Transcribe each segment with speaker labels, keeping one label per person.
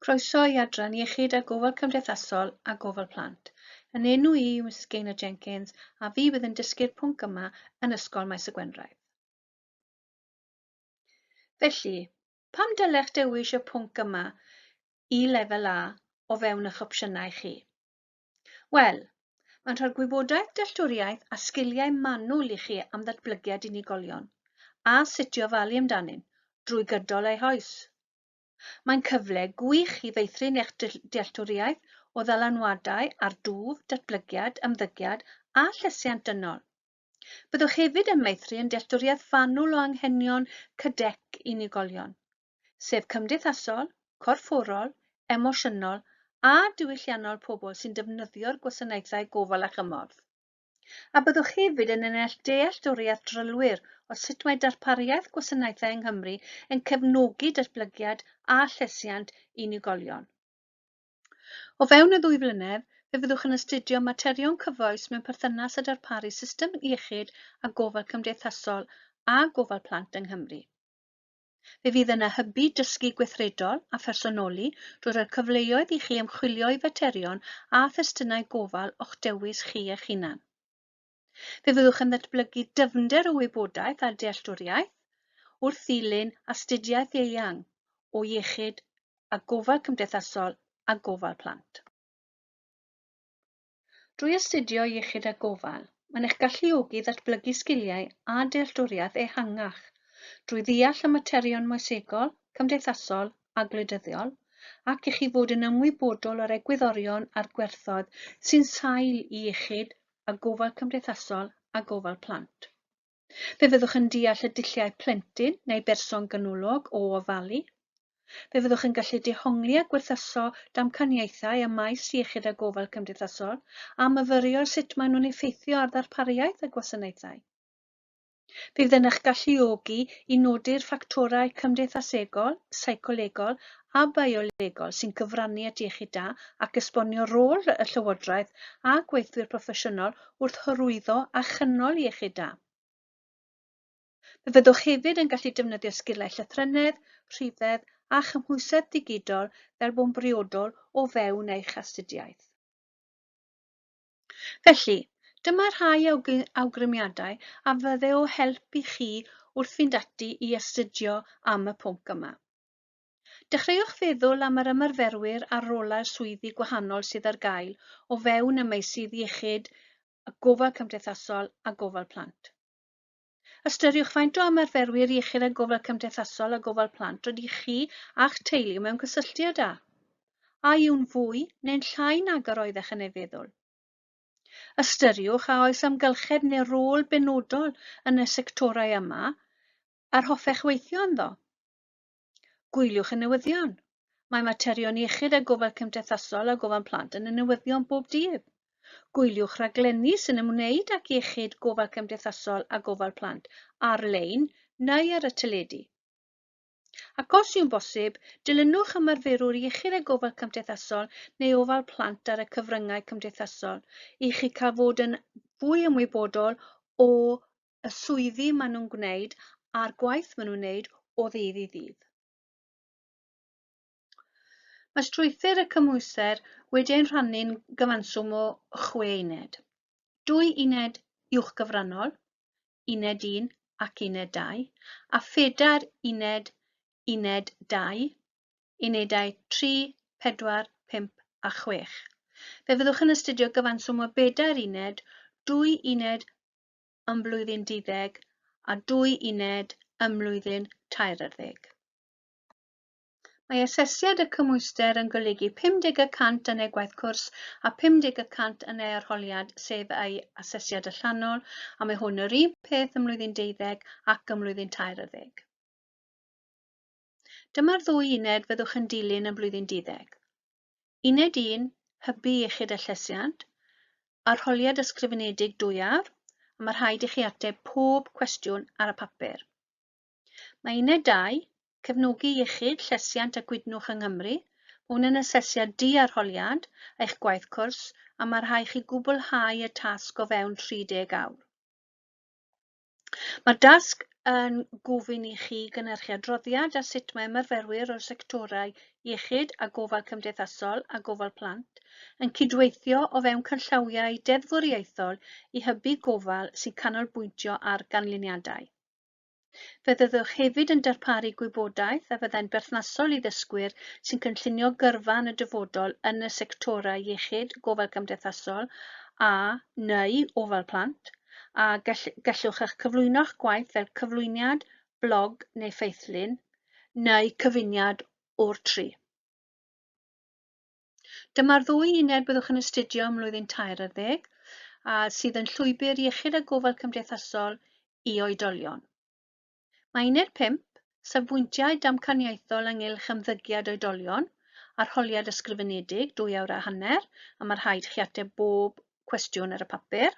Speaker 1: Croeso i Adran Iechyd a Gofal Cymdeithasol a Gofal Plant. Yn enw i yw Misus Gaynor Jenkins a fi fydd yn dysgu'r pwnc yma yn Ysgol Maes y Gwendraeth. Felly, pam dylech dewis y pwnc yma i Lefel A o fewn eich opsiynau chi? Wel, mae'n rhoi'r gwybodaeth, dealltwriaeth a sgiliau manwl i chi am ddatblygiad unigolion a sut i ofalu amdanynt drwy gydol eu hoes. Mae'n cyfle gwych i feithrin eich dealltwriaeth o ddylanwadau ar dwf, datblygiad, ymddygiad a llesiant dynol. Byddwch hefyd yn meithrin dealltwriaeth fanwl o anghenion CDEC unigolion. sef cymdeithasol, corfforol, emosiynol a diwylliannol pobl sy'n defnyddio'r gwasanaethau gofal a chymorth. A byddwch hefyd yn ennill dealltwriaeth drylwyr o sut mae darpariaeth gwasanaethau yng Nghymru yn cefnogi datblygiad a llesiant unigolion. O fewn y ddwy flynedd, fe fyddwch yn astudio materion cyfoes mewn perthynas â darparu system iechyd a gofal cymdeithasol a gofal plant yng Nghymru. Fe fydd yna hybu dysgu gweithredol a phersonoli drwy roi cyfleoedd i chi ymchwilio i faterion a thestunau gofal o'ch dewis chi eich hunan. Fe fyddwch yn ddatblygu dyfnder o wybodaeth a dealltwriaeth wrth ddilyn astudiaeth eang o iechyd a gofal cymdeithasol a gofal plant. Drwy astudio iechyd a gofal, mae'n eich galluogi i ddatblygu sgiliau a dealltwriaeth ehangach drwy ddeall y materion moesegol, cymdeithasol a gwleidyddiol ac i chi fod yn ymwybodol o'r egwyddorion a'r gwerthoedd sy'n sail i iechyd a gofal cymdeithasol a gofal plant. Fe fyddwch yn deall y dulliau plentyn neu berson ganolog o ofalu. Fe fyddwch yn gallu dehongli a gwerthuso damcaniaethau ym maes iechyd a gofal cymdeithasol a myfyrio ar sut maen nhw'n effeithio ar ddarpariaeth y gwasanaethau. Fe fydd yn eich galluogi i nodi'r ffactorau cymdeithasegol, seicolegol a biolegol sy'n cyfrannu at iechyd da ac esbonio rôl y Llywodraeth a gweithwyr proffesiynol wrth hyrwyddo a chynnal iechyd da. Fe fyddwch hefyd yn gallu defnyddio sgiliau llythrennedd, rhifedd a chymhwysedd digidol fel bo'n briodol o fewn eich astudiaeth. Felly, dyma rhai awgrymiadau a fydde o help i chi wrth fynd ati i astudio am y pwnc yma. Dechreuwch feddwl am yr ymarferwyr a'r rolau swyddi gwahanol sydd ar gael o fewn y meysydd iechyd, y gofal cymdeithasol a gofal plant. Ystyriwch faint o ymarferwyr iechyd a gofal cymdeithasol a gofal plant rydych chi a'ch teulu mewn cysylltiad â. A yw'n fwy neu'n llai nag yr oeddech yn ei feddwl? Ystyriwch a oes amgylchedd neu rôl benodol yn y sectorau yma yr hoffech weithio ynddo. Gwyliwch y newyddion. Mae materion iechyd a gofal cymdeithasol a gofal plant yn y newyddion bob dydd. Gwyliwch raglenni sy'n ymwneud ac iechyd, gofal cymdeithasol a gofal plant ar-lein neu ar y teledu. Ac os yw'n bosib, dilynwch ymarferwr iechyd a gofal cymdeithasol neu ofal plant ar y cyfryngau cymdeithasol i chi cael fod yn fwy ymwybodol o y swyddi maen nhw'n gwneud a'r gwaith maen nhw'n wneud o ddydd i ddydd. Mae strwythur y cymhwyster wedi ein rhannu'n gyfanswm o chwe uned. Dwy uned uwch gyfrannol, uned 1 ac uned 2, a phedair uned, uned 2, unedau 3, 4, 5 a 6. Fe fyddwch yn astudio gyfanswm o bedair uned, dwy uned ym mlwyddyn duddeg a dwy uned ym mlwyddyn tairarddeg. Mae asesiad y cymhwyster yn golygu 50 y cant yn ei gwaith cwrs a 50 y cant yn ei arholiad, sef ei asesiad allanol, a mae hwn yr un peth ym mlwyddyn deuddeg ac ym mlwyddyn tairarddeg. Dyma'r ddwy uned fyddwch yn dilyn ym mlwyddyn duddeg. Uned 1, Hybu Iechyd a Llesiant, Arholiad Ysgrifenedig Dwyawr, a mae rhaid i chi ateb pob cwestiwn ar y papur. Mae Uned 2, Cefnogi Iechyd, Llesiant a Gwydnwch yng Nghymru, hwn yn asesiad di-arholiad eich gwaith cwrs a mae rhaid chi gwblhau y tasg o fewn 30 awr. Mae'r dasg yn gofyn i chi gynhyrchu adroddiad ar sut mae ymarferwyr o'r sectorau iechyd a gofal cymdeithasol a gofal plant yn cydweithio o fewn cynllawiau deddfwriaethol i hybu gofal sy'n canolbwyntio ar ganlyniadau. Fe fyddwch hefyd yn darparu gwybodaeth a fyddai'n berthnasol i ddysgwyr sy'n cynllunio gyrfa yn y dyfodol yn y sectorau iechyd, gofal cymdeithasol a neu ofal plant, a gell, gellwch eich cyflwyno'ch gwaith fel cyflwyniad, blog neu ffeithlun, neu cyfuniad o'r tri. Dyma'r ddwy uned byddwch yn astudio ym mlwyddyn tair ar ddeg, a sydd yn llwybr iechyd a gofal cymdeithasol i oedolion. Mae uned pump, Safbwyntiau Damcaniaethol ynghylch Ymddygiad Oedolion, Arholiad Ysgrifenedig, dwy awr a hanner, a mae rhaid i chi ateb bob cwestiwn ar y papur.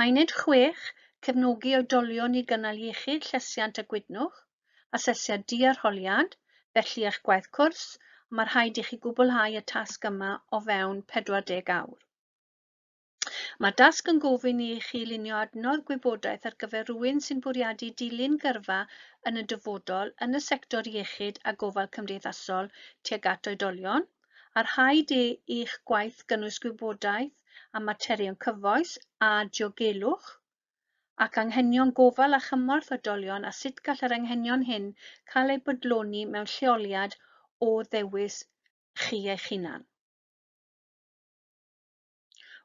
Speaker 1: Mae uned chwech, Cefnogi Oedolion i Gynnal Iechyd, Llesiant a Gwydnwch, Asesiad Di-arholiad, felly eich gwaith cwrs, a mae rhaid i chi gwblhau y tasg yma o fewn 40 awr. Mae'r dasg yn gofyn i chi lunio adnodd gwybodaeth ar gyfer rhywun sy'n bwriadu dilyn gyrfa yn y dyfodol yn y sector iechyd a gofal cymdeithasol tuag at oedolion, a rhaid i eich gwaith gynnwys gwybodaeth am materion cyfoes a diogelwch ac anghenion gofal a chymorth oedolion a sut gall yr anghenion hyn cael eu bodloni mewn lleoliad o ddewis chi eich hunan.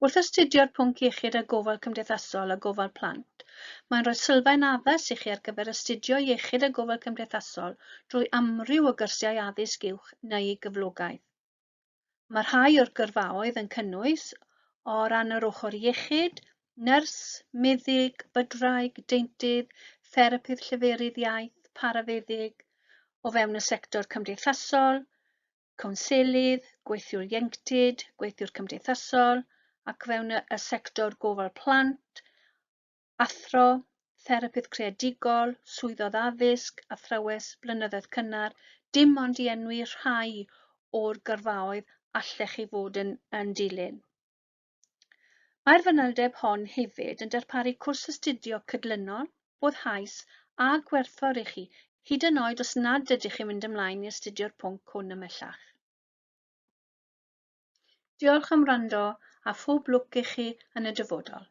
Speaker 1: Wrth astudio'r pwnc iechyd a gofal cymdeithasol a gofal plant, mae'n rhoi sylfaen addas i chi ar gyfer astudio iechyd a gofal cymdeithasol drwy amryw o gyrsiau addysg uwch neu gyflogaeth. Mae rhai o'r gyrfaoedd yn cynnwys, o ran yr ochr iechyd, nyrs, meddyg, bydwraig, deintydd, therapydd lleferydd iaith, parafeddyg, o fewn y sector cymdeithasol, cownselydd, gweithiwr ieuenctid, gweithiwr cymdeithasol ac fewn y, y sector gofal plant, athro, therapydd creadigol, swyddodd addysg, athrawes, blynyddoedd cynnar, dim ond i enwi rhai o'r gyrfaoedd allech chi fod yn, yn dilyn. Mae'r fanylder hon hefyd yn darparu cwrs astudio cydlynol, boddhaus a gwerthfawr i chi, hyd yn oed os nad ydych chi'n mynd ymlaen i astudio'r pwnc hwn ymhellach. Diolch am wrando a phob lwc i chi yn y dyfodol.